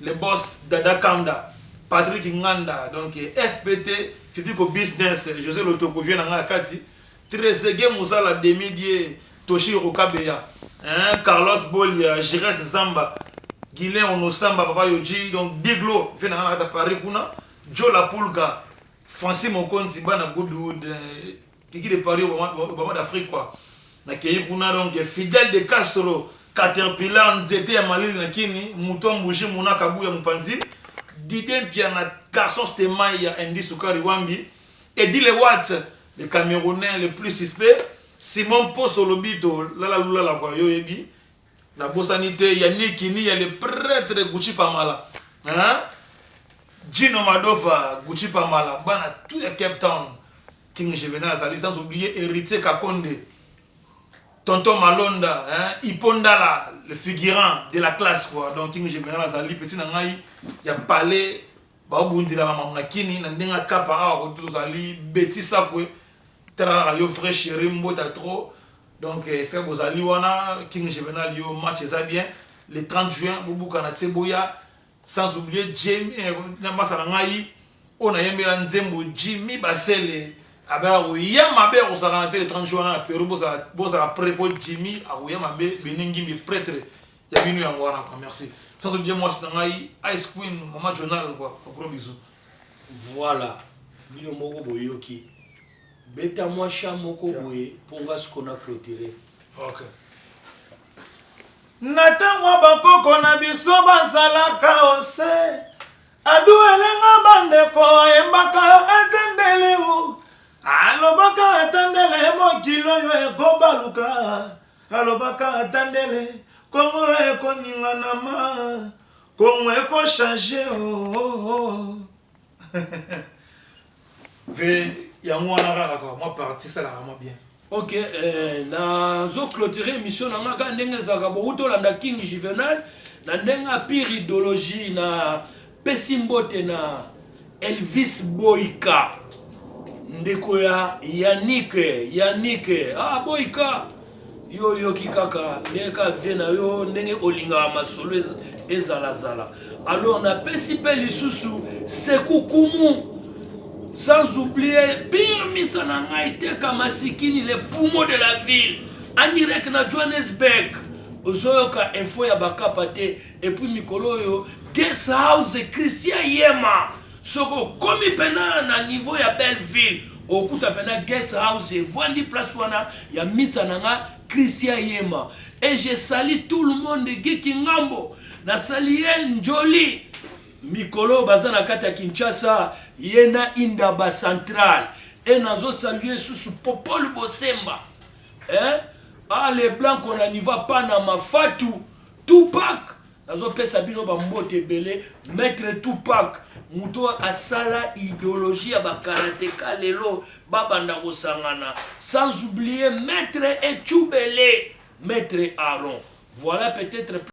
Le boss Dada Kanda, Patrick Nganda, donc FPT, Fibiko Business, Jose Lotoko, vieux na nga kati, Trezeguet Muzala, Demi Die, Toshiro Kabeya, hein, Carlos Bolia, Gires Zamba, Guilain Onosamba, Papa Yoji, donc Diglo, vieux na nga kata Paris kuna, Joe La Pulga, Francis Mokonzi, Bana Goodwood, euh, Kiki de paris obama d'afrique quoi na keyi kuna donc fidel de castro caterpillar nzete ya malili na kini mutua mbuji muna kabuya mupanzi dide mpiana garçon stemay ya indi sukari wambi edi le wat le camerounais le plus suspect simon mposo lobito lala lulala kwa yo yebi na bosani te ya niki ni ya le pretre gucci pamala hein? Gino Madofa, Gucci Pamala, bana tout ya Cape Town. King Juvenal azali sans oublier Heritier Kakonde, Tonton Malonda, hein, Hippo Ndala, le figurant de la classe quoi. Donc King Juvenal azali petit na ngai ya palais baobundela makambo na kini na ndenge akapa awa kote tozali beti sakwe talaka yo vrai chéri mbota trop donc esika bozali wana King Juvenal yo match eza bien le 30 juin bobukana tse boya Sans oublier Jamie eh, na masa na ngai oyo nayembela nzembo Jimmy Basele abelaka koya mabe ya kozala na te le 30 juin wana na Peru bozala bozala près po Jimmy akoya mabe Beni Ngimbi pretre ya bino yango wana kwa merci sans oublier mwasi na ngai Ice Queen mama Jonal kwa gros bisous Voilà, bino moko boyoki. Beta mwa chat moko boye mpo nga siko na clôturer. okay Na tango ya ba koko na biso bazalaka o se aduele nga ba ndeko ayembaka atendele o alobaka atendele mokili oyo eko baluka alobaka atendele congo eko ningana ma congo eko change o o o. Ve yango wana kaka ka mwa parti esalaka mwa bien. Ok eh, nazo clôturer émission na nga kaka ndenge ezalaka bowuti olanda King Juvenal na ndenge ya pire idéologie na pesi mbote na Elvis Boyka ndeko ya Yannick Yannick ah Boyka Yo oyoki kaka ndenge ka vie na yo ndenge olingaka masolo ezala zala. Alors na pesi pe lisusu sekukumu sans oublier birmisa na ngai teka masikini le poumon de la ville en direct na Johannesburg ozoyoka info ya bakapa te epuis mikolo oyo guest house christian yema Soki okomi pena na niveau ya belle ville okuta pena guest house evandi place wana ya misa na nga Christian Yema et je salue tout le monde Guy Kingambo na sali ye njoli mikolo baza na kati ya Kinshasa ye na Indaba Central et nazo salue susu Popol Bosemba eh ah les blancs qu'on a niva Panama Fatou Tupac Nazo pesa bino ba mbote ebele maitre Tupac mutu oyo asala ideologie ya ba karateka lelo babanda kosangana sans oublier maitre Etshubele maitre Aaron voilà peut-être